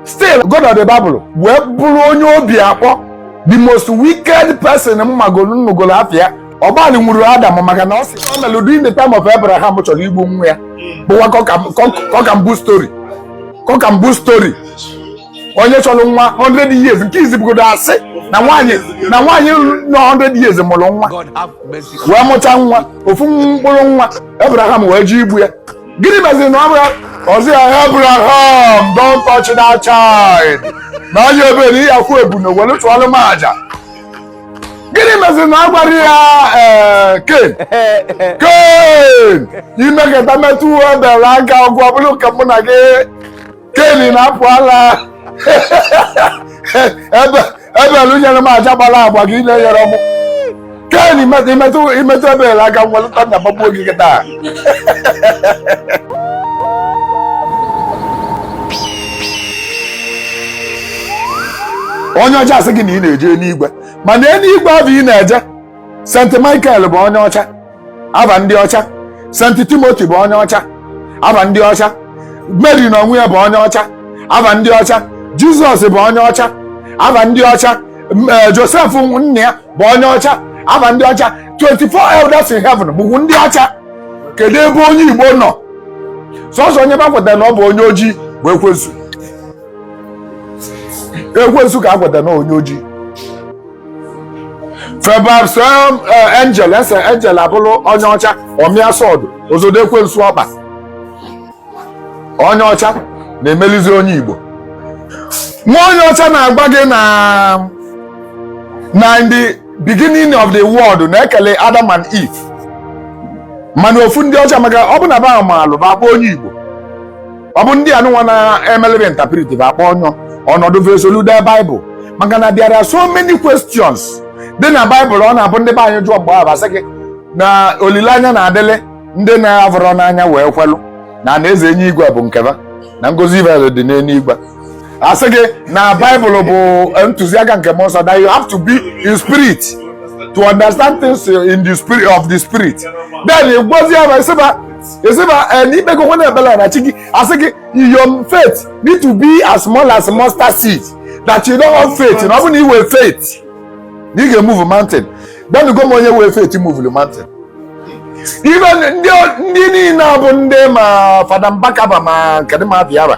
still God of the Bible wee bụrụ onye obi akpọ the most wicked person m magolu m nụgolu afa ya ọgbalị nwuru Adam maka na ọ sị ọ mere during the time of Abraham chọrọ igbu nwa ya bụwa cock and bull story cock and bull story onye chọrọ nwa 100 years nke izi bụgodu asị na nwaanyị na nwaanyị nọ 100 years mụrụ nwa wee mụta nwa ofu mkpụrụ nwa Abraham wee je igbu ya gịnị meziri na ọ bụrụ ọzọ ya abraham don't touch that child na onye ebe na ihe akwụ ebunu welu chụọlụ m aja gịnị meziri na a gwarọ ya ee ken ken i meketa metụ ebel aka ọgwụ ọ bụlụ ka mụ na gị ken rapụlụ ebel ebel nyere m aja gbara agba gịnwa enyerọ mụ ken i metụ i metụ ebel aka m welu thunder gbagbuo gị kịta onye ọcha asị gị na ị na-eje n'igwe mana eluigwe ahụ ị na-eje st michael bụ onye ọcha aba ndị ọcha senti timoti bụ onye ọcha aba ndị ọcha meri na onwe ya bụ onye ọcha aba ndị ọcha jizọs bụ onye ọcha aba ndị ọcha m- eh, josef nna ya bụ onye ọcha aba ndị ọcha 24 elders in heaven bụkwu ndị ọcha kedu ebe onye igbo nọ sọsọ onye ba kweta na ọ bụ onye ojii bụ ekwensu ekwensu ka a kweta na onye ojii febabs angel e see angel ọ bụrụ onye ọcha ọ mịa sword ọ zọdo ekwensu ọkpa onye ọcha na-emelizi onye igbo nwa onye ọcha na-agwa gị na in the beginning of the world na e kele adam and eve mana ọ bụ ndị ọcha maka ọ bụ na ba maalụ ba bụ onye igbo ọ bụ ndị anụnwa na-emelebe interpretive akpọ ọnyọ ọnọdụ ve solu dee baịbụl maka na bịara so many questions dị na baịbụl ọ na-abụ ndị be anyị jụọ mgbe ahụ asị gị na olileanya na-adịlị ndị na-avụrọ n'anya wee kwelụ na ana eze enu igwe bụ nke ba na ngọzi ve dị n'eluigwe asị gị na baịbụl bụ ntụziaka nke mmụọ nsọ that you have to be in spirit to understand things in the spirit of the spirit then gwazie ya sị ba esi ma eh, na i kpego nwa na-ebela na chi gị asị gị your faith need to be as small as mustard seed that you don't have faith na ọ bụ na i nwee faith na ị ga-emuvu mountain gwanụgo m onye nwee faith muvulu mountain ibe ndị ndị niile a bụ ndị ma fada mbaka ba ma kedụ ma bịara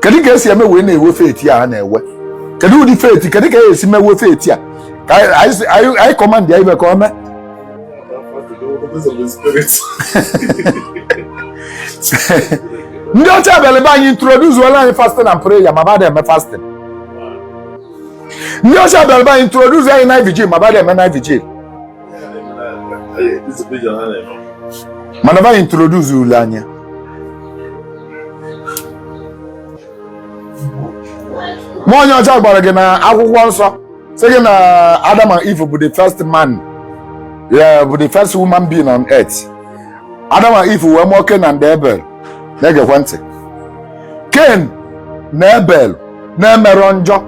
kedu ka esi eme wee na-enwe faith a na-enwe kedu ụdị faith kedu ka esi mewe faith a ka anyị command ya ive ka ọ mee ndị ọcha bịara be anyị introduceola anyị fasting and prayer ma ba ada eme fasting ndị ọcha bịara be anyị introduce anyị night vigil ma ba ada eme night vigil mana ba introduce lụ anyị ma onye ọcha gwara gị na akwụkwọ nsọ sị gị na Adam and Eve bụ the first man yeah, bụ the first human being on earth Adam and Eve wee mụọ Cain and Abel na-egekwe ntị Cain na Abel na-emerọ njọ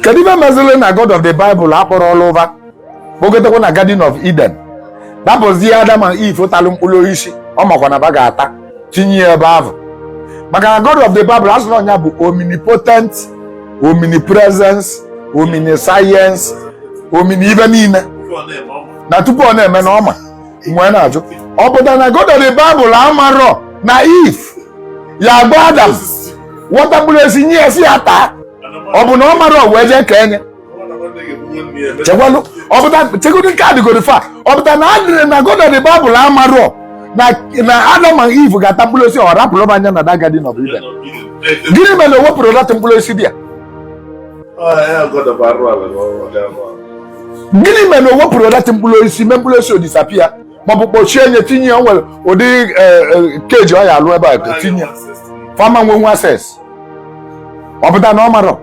kedu ive meziri na god of the bible akpọrọlụ va kpọgotekwa na garden of eden ebe ọ bụzi adam and eve talụ mkpụrụ osisi ọ makwa na ba ga-ata tinye ya ebe ahụ maka na god of the bible a sịrị ọ nya bụ omnipotent omnipresence omniscience omni ive niile na tupu ọ na-eme na ọ ma m wee na-ajụ ọ pụtara na god of the bible amarọ na eve ya agba adam wọta mkpụrụ osisi nye ya sị ya taa ọ bụ na ọ marọ o wee jee kenye chekwalụ ọpụta chekwudu nke adịgoro fa ọ pụta na adịrị na god of the bible amarọ na na adam and eve ga-ata mkpụrụ osisi ọ rapụrụ nya na the garden of eden gịnị mere na o wepụrọ that mkpụrụ osisi dị ya gịnị mere na o wepụrọ that mkpụrụ osisi mee mkpụrụ osisi ọ disappear maọbụ kpọchie nya tinye ya nwere ụdị cage ọ ya-alụ ebe a tinye ya fa ama nwe nwe access ọ pụta na ọ marọ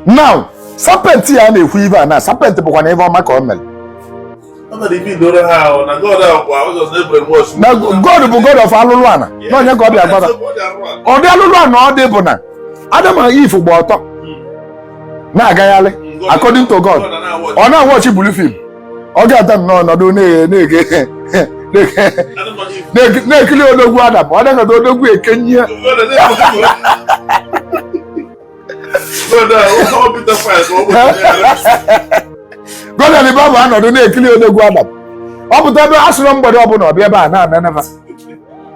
na serpent ya na-ekwu ive a na serpent bụkwa na ebe ọma ka ọ mere na god bụ god of alụlụ ana na onye ka ọ bịa gbada ụdị alụlụ ana ọ dị bụ na adam na eve gba ọtọ na-agagharị according to god ọ na-awatch blue film ọ ga-ata nnọọ ọ nọdụ na-ekiri odogwu adam ọ dịghọta odogwu e kenye ya god of the bible anọdụ na-ekiri odogwu adam ọ pụta ebe a sịrị mgbede ọbụla ọ bịa ebe a na-enene fa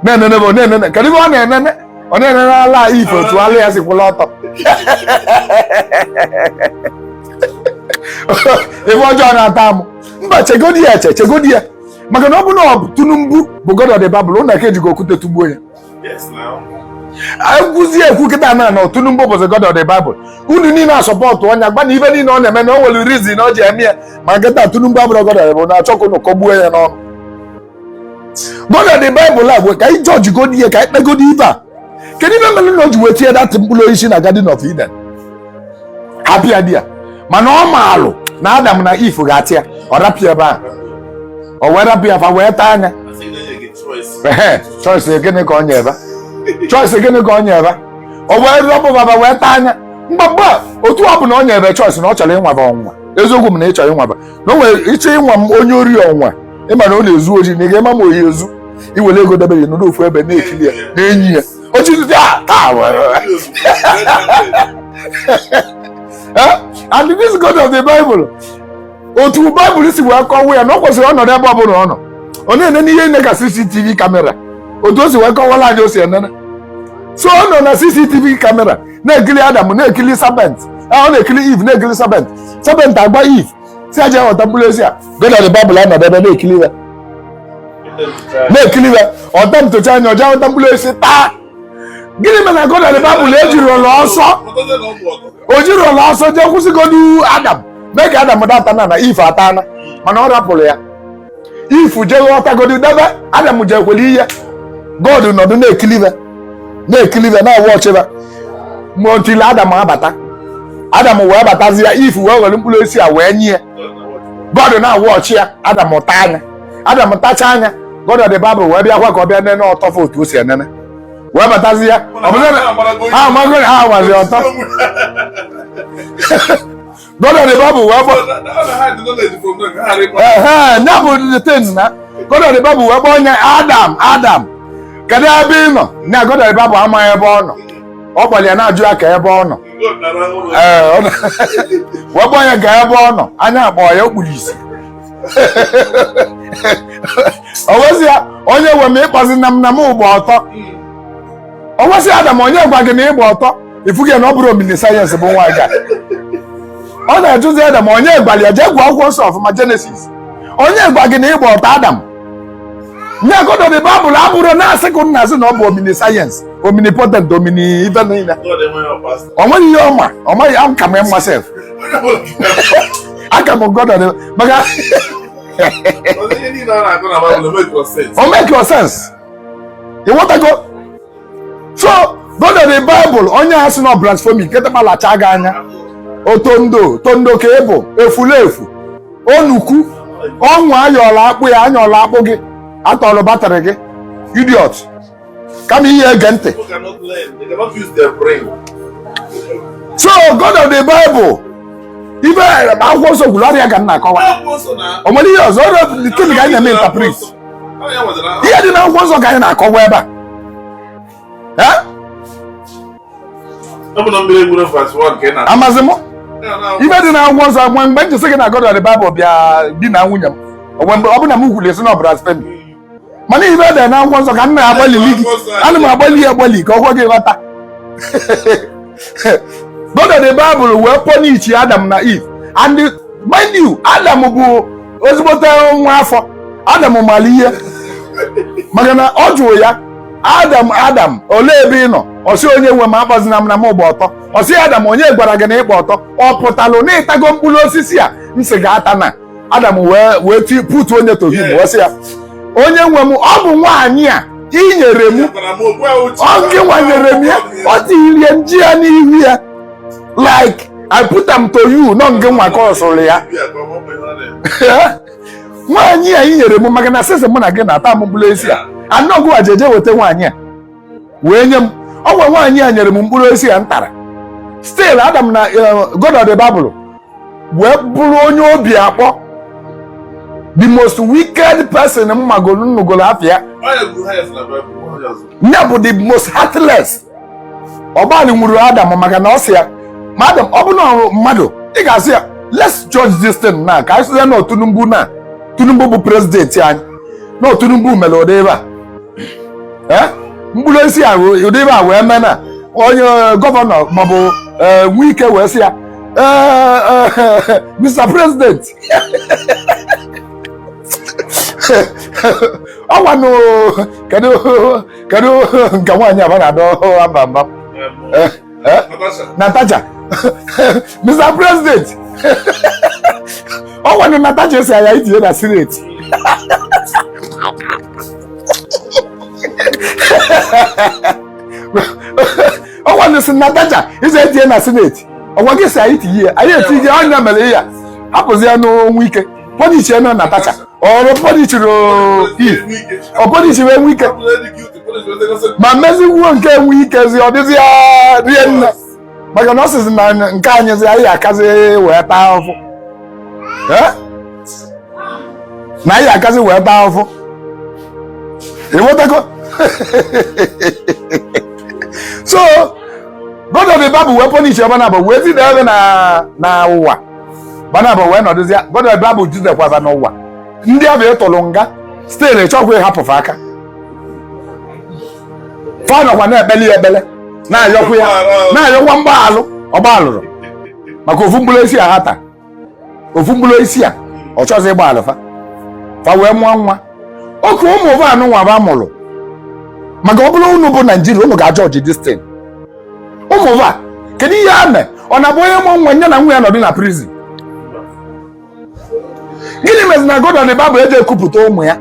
na-enene bụ na-enene kedu ive ọ na-enene ọ na-enene ala Eve otu ala ya si kwụla ọtọ ebe ọjọọ na-ata amụ mba chegodi ya eche chegodi ya maka na ọ bụ na ọ bụ Tinubu bụ God of the Bible unu aka-ejigo okwute tugbuo ya ekwuzi ekwu kịta na na Tinubu bụzi God of the Bible unu niile asupportụọ nya gba na ive niile ọ na-eme na o nwere reason o ji eme ya mana kịta Tinubu abụrụ God of the Bible na-achọ ka unu kọgbuo ya n'ọnụ God of the Bible a gwe ka anyị jọji godi ihe ka anyị kpegodi ikpe a kedu ife mere na o ji wee tinye that mkpụrụ osisi na Garden of Eden apịa di ya mana ọ maalụ na Adam na Eve ga-ata ya ọ rapụ ya ebe ahụ o wee rapụ ya fa wee taa ya ehe choice gịnị ka ọ nye ebe choice gịnị ka ọ nye ebe o wee rapụ ba ba wee taa ya mgbagba otu ọ bụla ọ nye ebe choice na ọ chọrọ ịnwa ba ọnwa eziokwu m na ị chọrọ ịnwa ba na o nwere ịchọ ịnwa m onye ori ọnwa ị mara ọ na-ezu ori na ị ga-ama ma ọ ya-ezu i were ego debere n'ụlọ ofu ebe na-ekiri ya na-enyi ya oji ndị a taa and this God of the Bible otu Bible si wee kọwa ya na ọ kwesịrị ịnọdụ ebe ọ bụla ọ nọ ọ na-ene ihe nine ka CCTV kamera otu o si wee kọwara anyị o si enene so ọ nọ na CCTV kamera na-ekiri Adam na-ekiri serpent ọ na-ekiri Eve na-ekiri serpent serpent agwa Eve sị ya je ghọta mkpụrụ osisi a God of the Bible anọdụ ebe na-ekili ya na-ekili ya ọta ntocha anya o je ghọta mkpụrụ osisi taa gịnị mere na God of the Bible ejirọ ọsọ o jirọ ọsọ jee kwụsịgodu adam mee ka adam data na na Eve atana mana ọ rapụrụ ya Eve je ghọtagodi debe adam jekwere ihe god nọdụ na-ekili Eve na-ekili Eve na-awa ọchịba ma otili adam abata adam wee batazi ya Eve wee were mkpụrụ osisi a wee nye ya god na-awa ọchị ya adam taa ya adam tachaa ya God of the Bible wee bịakwa ka ọ bịa nene ọtọ fa otu o si enene wee batazi ya ọ bụrụ na ha amago na ha amazi ọtọ God of the Bible wee bata. Uh-huh, that was the thing, na. God of the Bible wee kpọọ Adam. Adam. Kedu ebe ị nọ? Na God of the Bible amaghị ebe ọ nọ. Ọ gbalịa na-ajụ ya ka ebe ọ nọ. Wee gbaa ya ga ebe ọ nọ, anya akpọ ya o kpuru isi. O wee sị ya, onye nwe m ịkpọzi na m na m gba ọtọ. o wee sị adam onye gwa gị na ị gba ọtọ ị fugo na ọ bụrụ omniscience bụ nwa ga ọ na-ajụzi adam onye gwara ya jee gụọ akwụkwọ nsọ ọfụma jenesis onye gwa gị na ị gba ọtọ adam ya God of the Bible a bụrụ na asị ka ụnụ na-asị na ọ bụ omniscience omnipotent omni ife niile o nweghị ihe ọ ma ọ maghị am ka m mma sef aka m God maka o make rọ sense ị ghọtago so God of the Bible onye a sị na blasphemy nkịta ga-alacha gị anya otondo otondo ka ị bụ efulefu onukwu ọnwụ ayọla akpụ ya anyọla akpụ gị atọrọ batrị gị idiot kama ị ya-ege ntị People cannot learn. They cannot use their brain. so god of the bible ife akwụkwọ nsọ kwuru ọ bụ ya ka m na-akọwa Akwụkwọ nsọ na- o nwere ihe ọzọ ọrụ nke m ga-anya m interpret ihe dị na akwụkwọ nsọ ka anyị na-akọwa ebe a amazi m ihe dị na akwụkwọ nsọ mgbe mgbe njesi gị na God of the Bible bịa di na nwunye m ọ bụ na m kwuli esi na ọbara site mana ihe dị na akwụkwọ nsọ ka m na-agbalili gị ana m agbalị ya agbalị ka o kwe gị nghọta God of the bible wee punish adam na eve and mind you adam bụ ezigbote nwa afọ adam mara ihe maka na ọ jụrụ ya adam adam olee ebe ị nọ ọ sị onye nwe m akpọzina m na mụ gba ọtọ ọ sị adam onye gwara gị na ị gba ọtọ ọ pụtalụ na ị tago mkpụrụ osisi a m sị gị atana adam wee wee ti putuo nya to him wee sị ya onye nwe m ọ bụ nwaanyị a i nyere m ọ gị nwa nyere m ya ọ tirie m ji ya n'ihu ya like i put am to you na ọ ngị nwa ka ọ sịrị ya nwaanyị a i nyere m maka na sịsị mụ na gị na-ata mkpụrụ osisi a na ọ gị nwa jeje weta nwaanyị a wee nye m ọ kwa nwaanyị a nyere m mkpụrụ osisi a m tara still Adam na eh, God of the Bible wee bụrụ onye obi akpọ the most wicked person m magolu m nụgolu afa ya ya bụ the most heartless ọgbalị nwuru Adam maka na ọ sị ya ma Adam ọ bụ na ọrụ mmadụ ị ga-asị ya let's judge this thing na ka anyị sịzie na Tinubu na Tinubu bụ prezidenti anyị na Tinubu mere ụdị ebe a eh? mkpụrụ osisi a ụdị ihe a wee mee na onye eh, gọvanọ maọbụ eh, Wike wee sị ya Mr. President ọ kwanụ kedu nke nwaanyị ahụ na-adọ aba mba Eh? Natasha. Mr. President. Ọ kwanụ Natasha ị sị anyị tinye na sineti. Ọ kwanụ ị sị Natasha ị sị e tinye na sineti. Ọ kwa gị sị anyị tinye ya, anyị etinye ya, ọ nya mere ya. Hapụzia Wike. Pọnichi ya na Natasha. Ọrụ pọnichiri ọ pọnichiri Wike. ma mezikwuo nke Wikezi ọ dịzi ya rie nne maka na ọ sịzi na nke anyịzi anyị akazi wee taa ahụhụ Eh? na anyị akazi wee taa ahụhụ ị ghọtago so god of the bible wee pọnish ha naabọ wee zide ha na na ụwa ha naabọ wee nọdụzi god of the bible jidekwa ha n'ụwa ndị ahụ ị tụrụ nga still ị chọkwa ịhapụ ha aka fa nọkwa na-ekpeli ya ekpele na-ayọkwa ya na-ayọkwa mgbaalụ ọ gbaalụrọ maka ofu mkpụrụ osisi a ha taa ofu mkpụrụ osisi a ọ chọzi ịgbaalụ fa fa wee mụọ nwa oke ụmụ va nụ nwa va mụrụ maka ọ bụrụ unu bụ naijiria unu ga-ajudge distin ụmụ va kedu ihe a mee ọ na-abụ onye mụọ nwa nya na nwa ya nọdụ na prison gịnị mezi na God of the Bible eji ekupụta ụmụ ya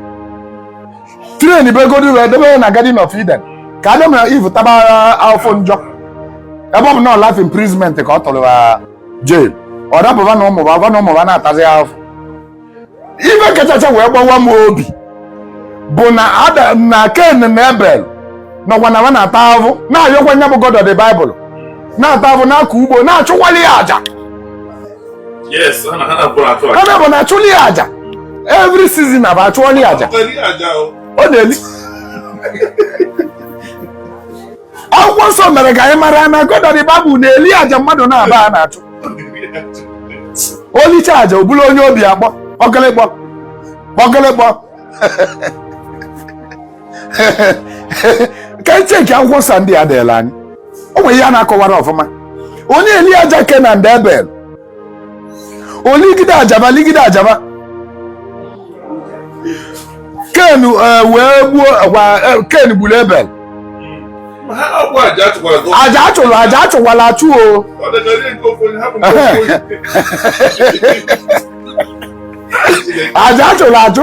tren bụ ego dị wee debe na Garden of Eden ka Adam na Eve taba afụfụ njọ ebe ọ bụ na life imprisonment ka ọ tụrụ jail ọ dapụba na ụmụ va na ụmụ va na-atazi afụfụ ife kachacha wee gbawa m obi bụ na Adam na Ken na Ebel nọkwa na na-ata ahụhụ na-ayọkwa nya bụ God of the Bible na-ata ahụhụ na-akọ ugbo na-achụkwali ya aja yes ha na-abụ na achụlị ya aja every season abụ achụọli aja ọ na-eli akwụkwọ nsọ mere ka anyị mara na God of the Bible na-eli aja mmadụ na-aba a na-achụ o lichaa aja ọ bụlụ onye obi akpọ ọgịlịgbọ ọgịlịgbọ ka anyị cheki akwụkwọ nsọ ndị a deela anyị o nwere ihe a na-akọwara ọfụma onye eli aja ken and ebel o ligide aja va ligide aja va ken eh, wee gbuo gwa- eh, ken gburu ebel ha ọkwa aja achụkwara gị aja achụrụ aja achụwala achụ o ọ dịka o lie nke ofu onye hapụ nke ofu onye aja achụrụ achụ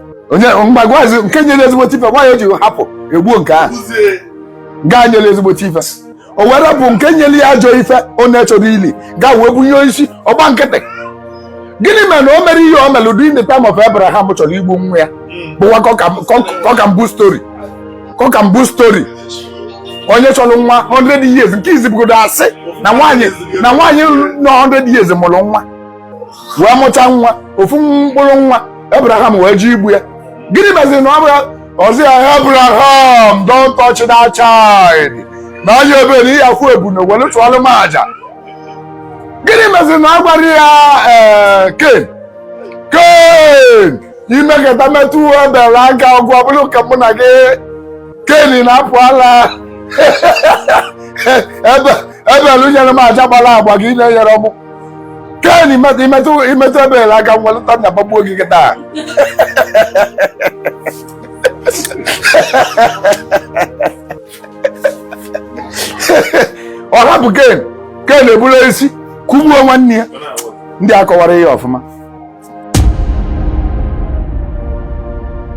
onye mgbe gwazi nke nyere ezigbote ife gwa ya o ji hapụ egbuo nke ahụ gaa nyere ezigbote ife o were bụ nke nyere ya ajọ ife ọ na-achọrọ ili gaa wee bunye onye isi ọ gba nkịtị gịnị mere na o mere ihe o mere during the time of Abraham chọrọ igbu nwa ya bụwa cock and bull story cock and bull story onye chọrọ nwa 100 years nke izizi bụgodu asị na nwaanyị na nwaanyị nọ 100 years mụrụ nwa wee mụta nwa ofu mkpụrụ nwa Abraham wee je igbu ya gịnị meziri na ọ bụla ọ sị ya Abraham don't touch that child na onye ebe na ị ya-akpụ ebunu were chụọlụ m aja gịnị meziri na ọ gwara ya ee Ken Ken i mekata metụ Ebel aka ọgwụ ọ bụrụ ka mụ na gị Ken na-apụ ala Ebel Ebel nyere m aja gbara agba gị na-enyere m ken i metụ ebel aka nwa lụta na gbagbuo gị kịta ọ hapụ ken ken eburu osisi kụgbuo nwanne ya ndị akọwara ihe ọfụma